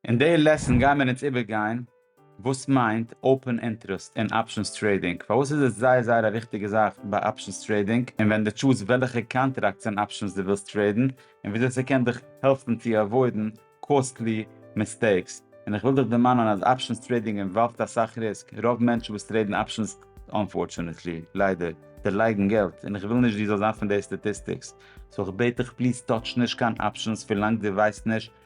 אין די לעסן גייען מיר אונז איבערגיין וואס מיינט אופען אינטרעסט אין אפשענס טרעידינג, פארוואס איז עס זייער זייער א וויכטיגע זאך ביי אפשענס טרעידינג, און ווען די טשוז וועלכע קאנטראקטס אין אפשענס די ווילסט טרעידן, און וויאזוי ס'קען דיך העלפן צו עוואוידן קאסטלי מיסטעיקס. און איך וויל דיך דערמאנען אז אפשענס טרעידינג אינוואלווד אסאך ריסק, רוב מענטשן וואס טרעידן אפשענס, אנפארטשענעטלי, ליידער, דערלייגן געלט, און איך וויל נישט דו זאלסט זיין פון די סטאטיסטיקס, סאו איך בעט דיך פליז טאטש נישט קיין אפשענס ווילאנג דו ווייסט נישט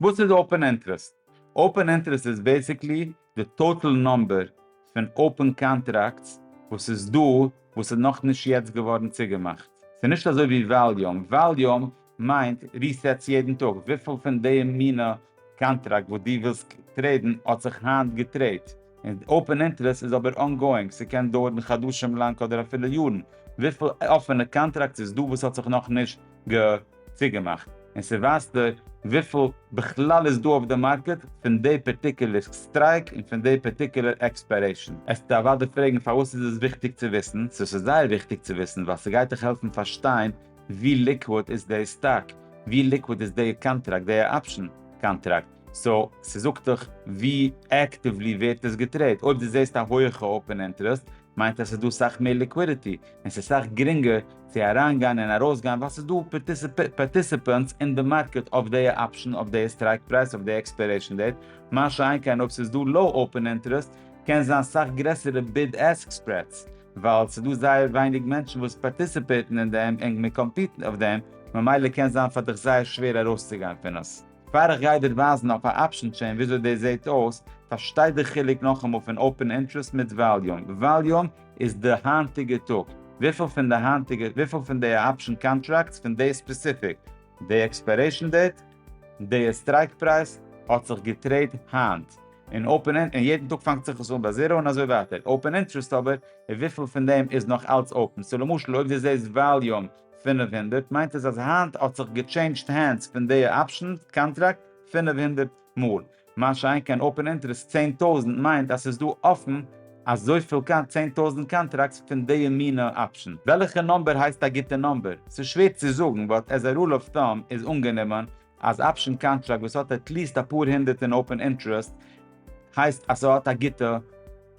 וואס איז אופען אינטרעסט? אופען אינטרעסט איז בעסיקלי די טאטעל נאמבער פון אופען קאנטראקטס וואס איז דא וואס איז נאכנישט יעצט געווארן צוגעמאכט. ס'איז נישט אזוי ווי וואליום, וואליום מיינט ריסעטס יעדן טאג, וויפיל פון די מינע קאנטראקט וואס דו ווילסט טרעידן האט זיך היינט געטרעידט. און אופען אינטרעסט איז אבער אנגאואינג, ס'קען דויערן חדשים לאנג אדער אפילו יארן, וויפיל אפענע קאנטראקטס איז דא וואס האט זיך נאכנישט ג צוגעמאכט, און ס'ווייזט דיר וויפיל בכלל איז דא אויף די מארקעט פון די פערטיקולער סטרייק און פון די פערטיקולער עקספיירעישן. עסטו אוודאי פרעגן פארוואס איז עס וויכטיג צו וויסן, סאו ס'איז זייער וויכטיג צו וויסן ווייל ס'גייט דיך העלפן פארשטיין ווי ליקוואד איז די סטאק, ווי ליקוואד איז די קאנטראקט, די אפשן קאנטראקט, סאו ס'זאגט דיך ווי עקטיוולי ווערט עס געטרעיד, אויב דו זעסט א הויעכע אופען אינטערעסט מיינט אז ס'איז דא סאך מער ליקווידיטי און ס'איז סאך גרינגער צו אריינגיין און ארויסגיין ווייל ס'איז דא פארטיסיפענטס אין די מארקעט אויף די אפשן, אויף די סטרייק פרייז, אויף די עקספיירעישן דעיט, מה שאין כן אויב ס'איז דא לאו אופען אינטערעסט קען זיין סאך גרעסערע ביד עסק ספרעדס ווייל ס'איז דא זייער ווייניג מענטשן וואס פארטיסיפעיטן אין דעם און מ'קאמפיטן אויף דעם ממילא קען זיין פאר דיך זייער שווער ארויסצוגיין פון עס. פאר איך גיי דיר ווייזן אויף א אפשען טשעין וויאזוי דאס זעהט אויס, פארשטיי די חילוק נאכאמאל פון אופען אינטרעסט מיט וואליום. וואליום איז די היינטיגע טאג, וויפיל פון די היינטיגע, וויפיל פון די אפשען קאנטראקטס פון די ספעסיפיק, די עקספיירעישן דעיט, די סטרייק פרייז, האט זיך געטרעיד היינט. און אופען אינ, און יעדן טאג פאנגט זיך עס אן ביי זירא און אזוי ווייטער. אופען אינטרעסט אבער, איז וויפיל פון דעם איז נאך אלץ אופען. סאו למשל אויב דו זעהסט וואליום פֿינף הונדערט מיינט עס אז היינט האט זיך געטשעינדזשד הענדס פון די אפשן קאנטראקט פֿינף הונדערט מאל, מה שאין כן אפען אינטערעסט צען טויזנט מיינט אז ס'איז דא אפן אזויפיל כמעט צען טויזנט קאנטראקטס פון די מינע אפשן. וועלכע נאמבער הייסט א גוטע נאמבער? ס'איז שווער צו זאגן באט עז א רול אוו טאם איז אנגענומען אז אפשען קאנטראקט וואס האט עטליעסט אפאר הונדערט אין אופען אינטרעסט הייסט אז ס'האט א גוטע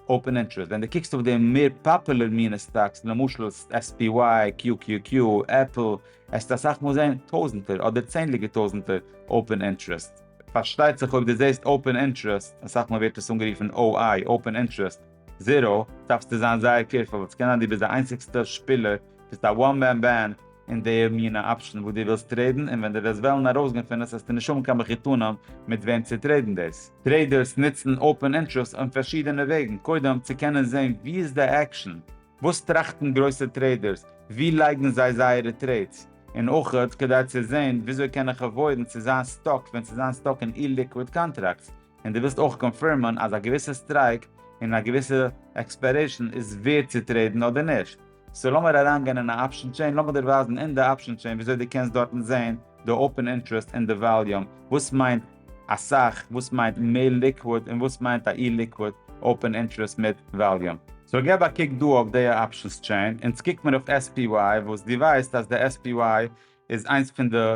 אופען אינטרעסט. ווען דו קוקסט אויף די מער פאפולער מינע סטאקס למשל SPY, QQQ, עפל, העסטו אסאך מאל זעהן טויזענטער אדער צענדליגער טויזענטער אופען אינטרעסט. פארשטייט זיך אויב דו זעהסט אופען אינטרעסט, אסאך מאל ווערט עס אנגערופן OI, אופען אינטרעסט, זיראו, דארפסטו זיין זייער קעירפול, ס'קען זיין דו ביסט די איינציגסטע שפילער, ביסט א וואן מען בענד, אין די מינע אפשן וואס דו ווילסט טרעידן, און ווען דו וועסט וועלן ארויסגיין פון עס העסטו נישט האבן קיין מחותנים מיט וועם צו טרעידן דאס. טרעידערס נוצן אופען אינטרעסט אויף פארשידענע וועגן, קודם צו קענען זען ווי איז די עקשן, וואס טראכטן גרויסע טרעידערס, ווי לייגן זיי זייערע טרעידס, און אויך כדי צו זען וויאזוי קען איך עוואוידן צו זיין סטאק ווען צו זיין סטאק אין אי-ליקוויד קאנטראקטס, און דו ווילסט אויך קאנפירמען אז א געוויסע סטרייק און א געוויסע עקספיירעישן איז ווערד צו טרעידן אדער נישט. סאו לאמיר אריינגיין אין א אפשן טשעין, לאמיר דיר ווייזן אין די אפשן טשעין וויאזוי דו קענסט דארטן זעהן די אופן אינטרעסט און די וואליום, וואס מיינט אסאך, וואס מיינט מער ליקוויד, און וואס מיינט א אי-ליקוויד אופן אינטרעסט מיט וואליום. סאו געב א קוק דא אויף די אפשנס טשעין, אונז קוק מיר אויף SPY וואס דו ווייסט אז די SPY איז איינס פון די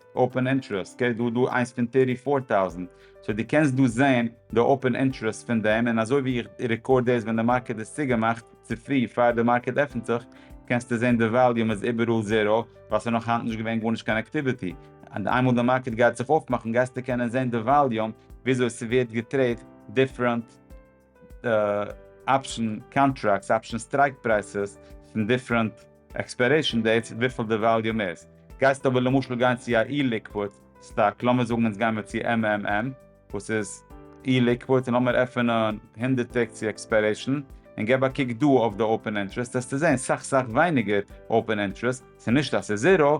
אופען אינטרעסט קעי דא דא איינס פון טערטי פאר טאוזענט סאו די קענסט דא זעהן די אופען אינטרעסט פון דעם און אזוי ווי איך רעקארד דאס ווען די מארקעט איז צוגעמאכט צופרי פאר די מארקעט עפענט זיך קענסטו זעהן די וואליום איז איבעראל זערא ווייל ס'נאך היינט נישט געווען גארנישט קיין אקטיוויטי און איינמאל די מארקעט גייט זיך אויפמאכן גייסטו קענען זעהן די וואליום וויאזוי ס'ווערט געטרעיד דיפרענט אפשן קאנטראקטס, אפשן סטרייק פרייסעס, פון דיפרענט עקספיירעישן דעיטס, וויפיל די וואליום איז. גייסט אבער למשל גיין צו א אי-ליקוויד סטאק, לאמיר זאגן אונז גיימער צו MMM וואס איז אי-ליקוויד, און לאמיר עפענען הונדערט טעג צו עקספיירעישן, און גיב א קוק דא אויף די אופען אינטרעסט, העסטו זען סאך סאך ווייניגער אופען אינטרעסט, ס'נישט אז ס'איז זיראו,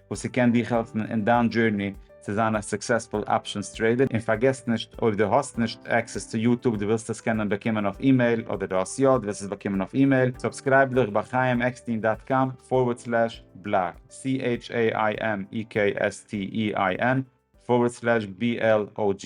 וואס ס'קען דיך העלפן אין דיין דזשורני צו זיין א סוקסעספול אפשענס טרעידער, און פארגעס נישט אויב דו האסט נישט עקסעס צו יוטוב דו ווילסט עס קענען באקומען אויף אימעיל אדער דו האסט יא דו וועסט עס באקומען אויף אימעיל סובסקרייב דיך ביי חיים עקסטין דאט קאם פארווערד סלעש בלאג CHAIMEKSTEIN פארווערד סלעש BLOG.